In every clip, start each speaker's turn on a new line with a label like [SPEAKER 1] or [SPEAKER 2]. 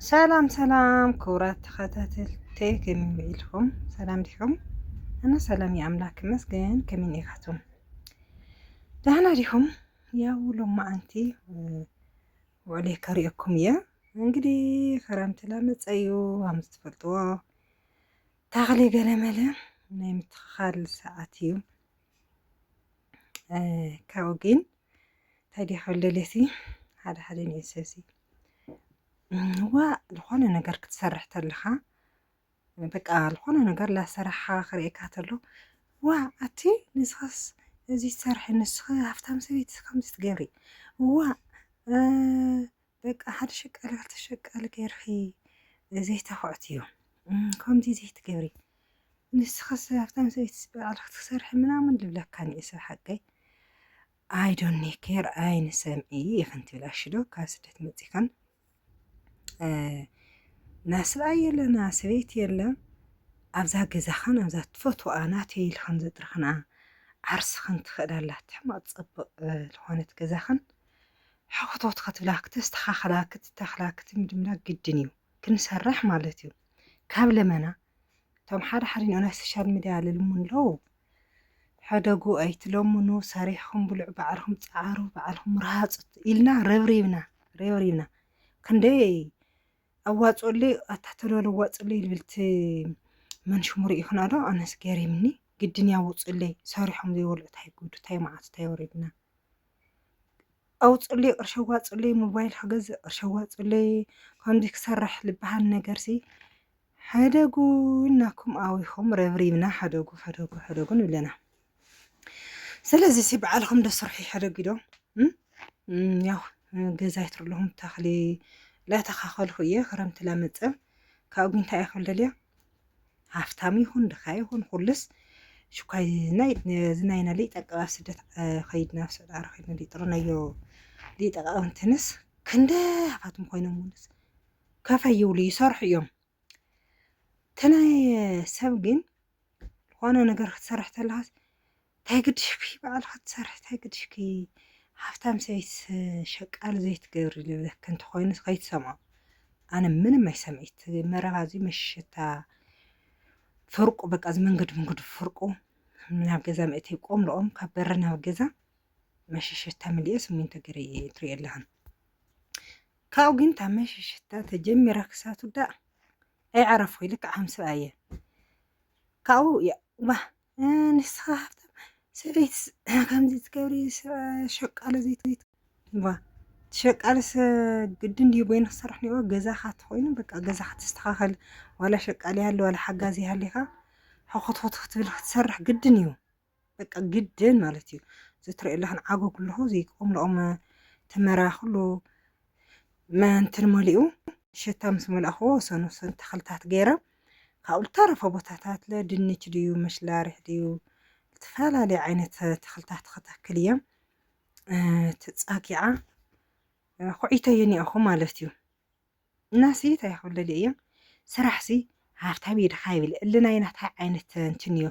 [SPEAKER 1] ሰላም ሰላም ክቡራት ተኸታተልቲ ከመይ ኢልኩም? ሰላም ዲኹም? ኣነ ሰላም እዩ ኣምላክ ይመስገን። ከመይ ኢኻቱም? ደህና ዲኹም? ያው ሎማዓንቲ ውዕሌ ከሪኦኩም እየ። እንግዲህ ክረምቲ ላመፀ እዩ ከም ዝትፈልጥዎ ታኽሊ ገለመለ ናይ ምትኽኻል ሰዓት እዩ። ካብኡ ግን እንታይ ድያ ሕልልቲ ሓደ ሓደ ንእሰሲ ዋ ዝኾነ ነገር ክትሰርሕ ተለኻ በቃ ዝኾነ ነገር ላሰራሕኻ ክርእካ ተሎ ዋ ኣቲ ንስኻስ እዚ ትሰርሒ ንስኺ ሃፍታም ሰበይቲ ከምዚ ትገብሪ ዋ በቃ ሓደ ሸቃሊ ክልተ ሸቃሊ ገይርኺ ዘይተኽዕቲ እዩ ከምዚ ዘይትገብሪ ንስኸስ ኣብታ ሰበይትስ ባዕልኺ ትሰርሒ ምናምን ልብለካ ንእሰ ሓቀይ ኣይ ዶንት ኬር ኣይን ሰምዒ ኢኽን ትብል ኣሽዶ ካብ ስደት መፂኻን ናስብኣይ የለና ሰበይቲ የለ ኣብዛ ገዛኸን ኣብዛ ትፈትዋኣ ናተይ ኢልኸን ዘጥርኽና ዓርስኸን ትኽእል ኣላ ትሕማቕ ፅብቕ ዝኾነት ገዛኸን ሕክቶት ክትብላ ክተስተኻኽላ ክትተኽላ ክትምድምዳ ግድን እዩ ክንሰርሕ ማለት እዩ ካብ ለመና እቶም ሓደ ሓደ ኒኦ ናይ ሶሻል ሚድያ ልልሙ ኣለዉ ሕደጉ ኣይትለምኑ ሰሪሕኹም ብልዑ ባዕልኹም ፀዓሩ ባዕልኹም ርሃፁ ኢልና ረብሪብና ረብሪብና ክንደይ ኣዋፅኡለይ ኣታተሎ ለዋፅለይ ልብልቲ መን ሽሙ ርኢኹና ዶ ኣነስ ገሪምኒ ግድን ያውፅለይ ሰሪሖም ዘይበልዑ ታይ ጉዱ ታይ መዓቱ ታይ ወሪድና ኣውፅእለይ ቅርሺ ኣዋፅእለይ ሞባይል ክገዝእ ቅርሺ ኣዋፅእለይ ከምዚ ክሰርሕ ዝበሃል ነገርሲ ሕደጉ ኢልናኩም ኣዊኹም ረብሪብና ሕደጉ ሕደጉ ሕደጉ ንብለና ስለዚ ሲ በዓልኹም ዶ ስርሑ ሕደጉ ዶ ያው ገዛ ይትርለኹም ተኽሊ ላተኻኸልኩ እየ ክረምቲ ላመፀ ካብ ጉንታይ እየ ክብለልያ ሃፍታም ይኹን ድኻ ይኹን ኩሉስ ሽኳይ ናይ ዝናይና ሊጠቀ ኣብ ስደት ከይድና ኣብ ስዑድ ዓረ ከይድና ሊጥርናዮ ሊጠቀ እንትንስ ክንደ ሃፋትም ኮይኖም ውንስ ከፈ ይብሉ ይሰርሑ እዮም ተናይ ሰብ ግን ዝኾነ ነገር ክትሰርሕ ተለኻስ ታይ ግድሽኪ ባዕልኪ ትሰርሒ ታይ ግድሽኪ ሃፍታም ሰበይቲ ሸቃሊ ዘይትገብሪ ልብለኪ እንተኮይኑስ ከይትሰምዖ ኣነ ምንም ኣይሰምዒት መረባ እዚ መሸታ ፍርቁ በቃ እዚ መንገዲ መንገዲ ፍርቁ ናብ ገዛ መእተይ ቆም ልኦም ካብ በሪ ናብ ገዛ መሸሸታ ምልኦ ስሚንቶ ገረ ትሪኦ ኣለኽን ካብኡ ግን እታ መሸሸታ ተጀሚራ ክሳብ ትውዳእ ኣይዓረፍኩ ልክዕ ከም ሰብኣየ ካብኡ ዋ ንስኻ ሃብታም ሰበይትስ ከምዚ ትገብሪ ሸቃሎ ዘይት ዋ ሸቃልስ ግድን ድዩ በይኑ ክሰርሕ ኒዎ ገዛኻ ተኾይኑ በቃ ገዛኻ ተስተኻኸል ዋላ ሸቃል ይሃሉ ዋላ ሓጋዚ ይሃሊኻ ሕኾትኾት ክትብል ክትሰርሕ ግድን እዩ በቃ ግድን ማለት እዩ ዘትሪኦ ኣለኽን ዓጎ ኩልኹ ዘይቆምልኦም ተመራ ኩሉ መንትን መሊኡ ሸታ ምስ መላእኽዎ ሰኑ ሰኑ ተኽልታት ገይሮም ካብኡ ልተረፈ ቦታታት ለ ድንች ድዩ ምሽላርሕ ድዩ ልተፈላለየ ዓይነት ተኽልታት ኸተክል እየም ትጻኪዓ ኹዒተ የኒኣኹ ማለት እዩ እናሲ ታይ ክብለል እየም ስራሕሲ ሃፍታም የድኻ ይብል እሊ ናይ ናታይ ዓይነት እንትን እዩ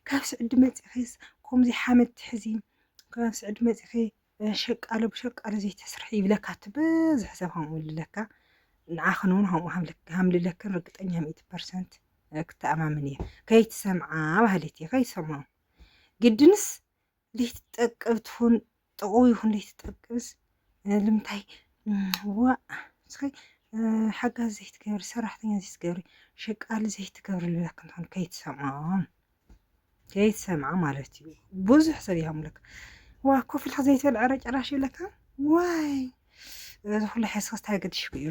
[SPEAKER 1] ካብ ስዕዲ መጺኺስ ከምዚ ሓመድ ትሕዚ ካብ ስዕዲ መጺኺ ሸቃሎ ብሸቃሎ ዘይተስርሐ ይብለካ እቲ ብዝሕ ሰብ ከምኡ ይብለካ ንዓኽን እውን ከምኡ ሃምልለክን ርግጠኛ ሚእቲ ፐርሰንት ክተኣማምን እየ ከይትሰምዓ ባህሊት እየ ከይሰምዖ ግድንስ ዘይትጠቅብ ትኹን ጥቕው ይኹን ዘይትጠቅብስ ልምታይ ዋ እስኺ ሓጋዝ ዘይትገብሪ ሰራሕተኛ ዘይትገብሪ ሸቃሊ ዘይትገብሪ ልብለክን ትኾን ከይትሰምዖም ከይትሰምዓ ማለት እዩ ብዙሕ ሰብ ይሃምለካ ዋ ኮፍ ኢልካ ዘይትበልዕ ዕረ ጨራሽ ይብለካ ዋይ እዚ ኩሉ ሓስኻስ እንታይ ገድሽኩ እዩ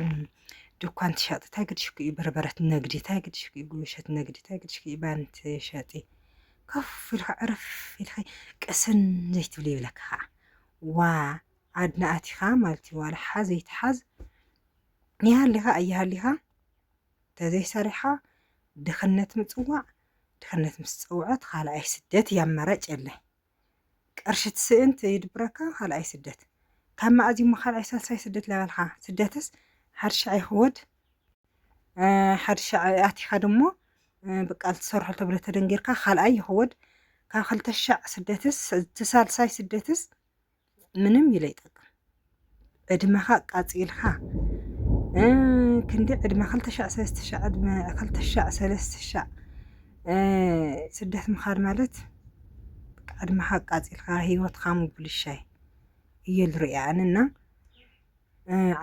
[SPEAKER 1] ድኳን ትሸጥ እንታይ ገድሽኩ እዩ በርበረት ነግዲ እንታይ ገድሽኩ እዩ ጉሸት ነግዲ እንታይ ገድሽኩ እዩ ባን ትሸጢ ኮፍ ኢልካ ዕረፍ ኢልካ ቅስን ዘይትብል ይብለካ ከዓ ዋ ኣድናኣቲኻ ማለት እዩ ዋላ ሓዝ ይትሓዝ ይሃሊኻ ኣይሃሊኻ ተዘይሰሪሕኻ ድኽነት ምፅዋዕ ድሕነት ምስ ጸውዐት ኻልኣይ ስደት እያ ኣማራጭ የለን ቅርሺ ትስእን ትይድብረካ ኻልኣይ ስደት ካብ መኣዝ እዩሞ ኻልኣይ ሳልሳይ ስደት ለበልኻ ስደትስ ሓድ ሻዕ ይኽወድ ሓድ ሻዕ ኣቲኻ ድሞ ብቃል ትሰርሖ ተብለ ተደንጊርካ ኻልኣይ ይኽወድ ካብ ክልተ ሻዕ ስደትስ ትሳልሳይ ስደትስ ምንም እዩ ለይጠቅም ዕድመኻ ኣቃጺልካ ክንዲ ዕድመ ክልተ ሻዕ ሰለስተ ሻዕ ዕድመ ክልተ ሻዕ ሰለስተ ሻዕ ስደት ምኻድ ማለት ዕድመኻ ኣቃጺልካ ሂወትካ ምብልሻይ እየ ዝሪኦ ኣነ እና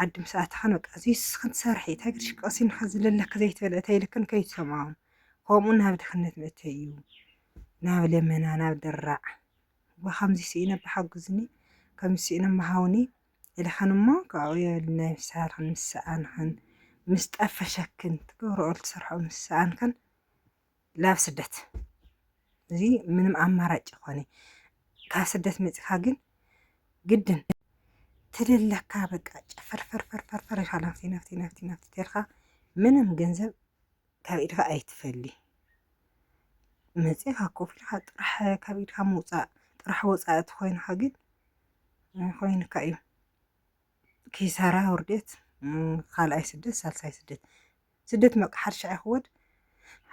[SPEAKER 1] ዓዲ ምስ ኣተኻን በቃ እዙይ ስኽን ትሰርሒ እንታይ ግድሽክ ቀሲንኻ ዝለለክ ዘይትበልዕ ተይልክን ከይትሰምዖም ከምኡ ናብ ድኽነት መእተይ እዩ ናብ ለመና ናብ ድራዕ ብኸምዚ ስኢነ እባ ሓግዙኒ፣ ከምዚ ስኢነ እማ ሃቡኒ ኢልኽን እሞ ካብኡ የብል ናይ ምሳልኽን ምስ ሰኣንኽን ምስ ጠፈሸክን ትገብርኦ ትሰርሕኦ ምስ ሰኣንክን ላብ ስደት እዚ ምንም ኣማራጭ ይኾነ ካብ ስደት መፂኻ ግን ግድን ትልለካ በቃ ጨፈርፈርፈርፈርፈር ኢልካ ናፍቲ ናፍቲ ናፍቲ ናፍቲ ተልካ ምንም ገንዘብ ካብ ኢድካ ኣይትፈሊ መጺኻ ኮፍ ኢልካ ጥራሕ ካብ ኢድካ ምውጻእ ጥራሕ ወጻኢ ተኾይንካ ግን ኮይንካ እዩ ኪሳራ ውርደት ካልኣይ ስደት ሳልሳይ ስደት ስደት መቃ ሓርሻ ይኽወድ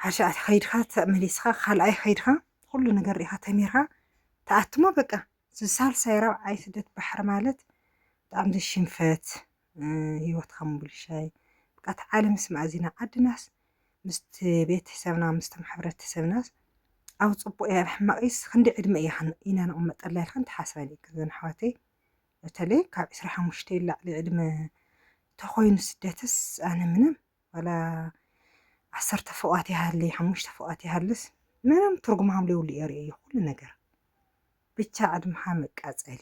[SPEAKER 1] ሓርሻ ከይድካ ተመሊስካ ካልኣይ ከይድካ ኩሉ ነገር ሪኢኻ ተሚርካ ተኣትሞ በቃ ሳልሳይ ራብዓይ ስደት ባሕሪ ማለት ብጣዕሚ ሽንፈት ሂወትካ ምቡልሻይ ብቃ ተዓል ምስ ማእዚና ዓድናስ ምስቲ ቤትሕሰብና ምስቶም ሕብረተሰብናስ ኣብ ጽቡቅ እያ ሕማቂስ ክንደይ ዕድመ እያ ኢና ንቅመጠላ ኢልክን ትሓስበን ኢክን ዘን ኣሕዋተይ በተለይ ካብ ዕስራ ሓሙሽተ ይላዕሊ ዕድመ ተኮይኑ ስደትስ ኣነ ምንም ዋላ ዓሰርተ ፎቃት ይሃሊ ሓሙሽተ ፎቃት ይሃልስ ምንም ትርጉም ሃምሌውሉ እየ ርእዮ ኩሉ ነገር ብቻ ዕድምካ መቃጸሊ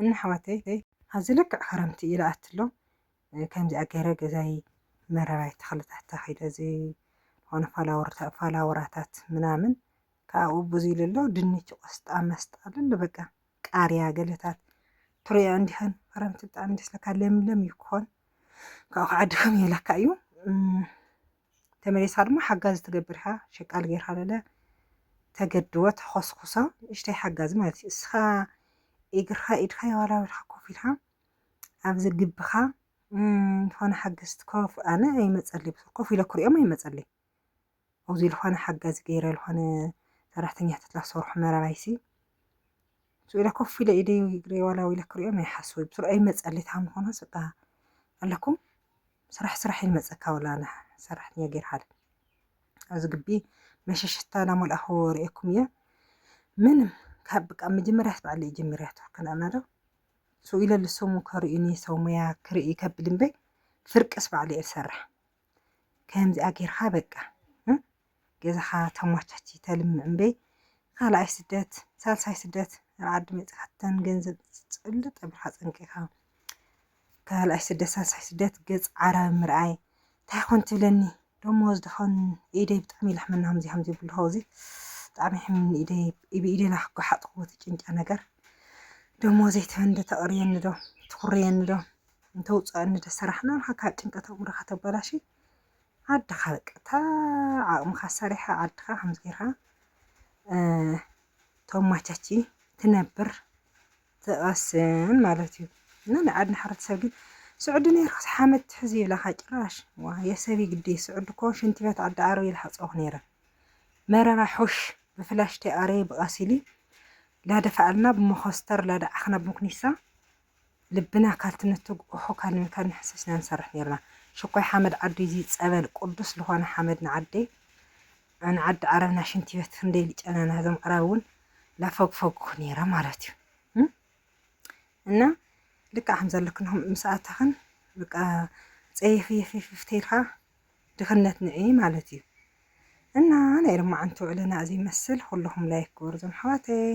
[SPEAKER 1] እና ኣሕዋተይ ሐዚ ልክዕ ክረምቲ እዩ ልኣቲ ኣሎ ከምዚኣ ገይረ ገዛይ መረባይ ተኽልታት ተኺለ ዝኾነ ፋላወራታት ምናምን ካብኡ ብዙይ ልሎ ድንች ቆስጣ መስጣ ልሎ በቃ ቃርያ ገለታት ትሪያ እንዲኸን ክረምቲ ብጣዕሚ ደስ ለካ ለምለም ይኮን ካብኡ ከዓድኸም የለካ እዩ ተመሊሳ ድማ ሓጋዚ ትገብር ኢኻ ሸቃሊ ጌርካ ለለ ተገድቦ ተኾስኩሶ ንእሽተይ ሓጋዚ ማለት እዩ እስኻ እግርኻ ኢድካ የዋላውልካ ኮፍ ኢልካ ኣብዚ ግብኻ ዝኾነ ሓገዝቲ ኮፍ ኣነ ኣይመፀለይ ብዙሕ ኮፍ ኢለ ክሪኦም ኣይመፀለይ ኣብዚ ዝኾነ ሓጋዚ ገይረ ዝኾነ ሰራሕተኛታት ላሰርሑ መራባይሲ ስኡ ኢለ ኮፍ ኢለ ኢደይ እግረይ ዋላው ኢለ ክሪኦም ኣይሓስበይ ብዙሕ ኣይመፀለይ ታም ዝኾነ ስጋ ኣለኩም ስራሕ ስራሕ ኢል መጸካ ወላ ን ሰራሕተኛ ጌርካ ዶ ኣብዚ ግቢ መሸሸታ ናመልኣኹ ርኤኩም እየ ምንም ካብ ብቃ መጀመርያት ባዕለይ ጀሚርያቶ ከነኣና ዶ ስኡ ኢለ ልሰሙ ከርእዩኒ ሰው ሙያ ክርኢ ከብል እምበይ ፍርቅስ ባዕለይ እየ ዝሰርሕ ከምዚኣ ጌርካ በቃ ገዛኻ ተማቻቺ ተልምዕ እምበይ ኻልኣይ ስደት ሳልሳይ ስደት ኣብ ዓዲ መፂእኻ ተን ገንዘብ ፅልጥ ኣብልካ ፀንቂኻ ካልኣይ ስደት ሳልሳይ ስደት ገፅ ዓረብ ምርኣይ እንታይ ኮን ትብለኒ ደሞዝ ድኾን ኢደይ ብጣዕሚ ይላሕመና ከምዚ ከምዚ ይብሉ ኸዚ ብጣዕሚ ሕምኒ ኢደይ ብኢደና ክጓሓጥኹዎ ትጭንጫ ነገር ደሞዘይ ትበንደ ተቕርየኒ ዶ ትኹርየኒ ዶ እንተውፅኣኒ ዶ ሰራሕና ኢልካ ካብ ጭንቀት ኣእምሮኻ ተበላሽ ዓድኻ በቃ እታ ዓቕምኻ ኣሳሪሕኻ ዓድኻ ከምዚ ጌርካ ተማቻቺ ትነብር ትቐስን ማለት እዩ እና ናይ ዓድና ሕብረተሰብ ግን ስዑዲ ነይርካስ ሓመድ ትሕዝ ይብላኻ ጭራሽ ዋ የሰብ ግዲ ስዑዲ እኮ ሽንቲ ቤት ዓዲ ዓረብ ይልሓፀኹ ነይረ መረባ ሑሽ ብፍላሽቲ ኣረይ ብቐሲሊ ላደፋኣልና ብመኾስተር ላደዓኽና ብምኩኒሳ ልብና ካልቲ ንትግኦሖ ካሊም ካን ንሕሰስ ኢና ንሰርሕ ነይርና ሽኮይ ሓመድ ዓዱይ እዙ ፀበል ቁዱስ ልኾነ ሓመድ ንዓደይ ን ዓዲ ዓረብ ና ሽንቲበት ክንደይ ልጨናና እዞም ዕራብ እውን ላፈግፈጉ ነይረ ማለት እዩ እና ልክዕ ከምዛ ልክንኹም ምስ ኣታኽን በቃ ፀይፍይፍይፍ ተይልካ ድኽነት ንዒ ማለት እዩ እና ናይ ልማዓንቲ ውዕልና እዚ ይመስል ኩልኹም ላይክ ክበሩ ዞም ኣሕዋተይ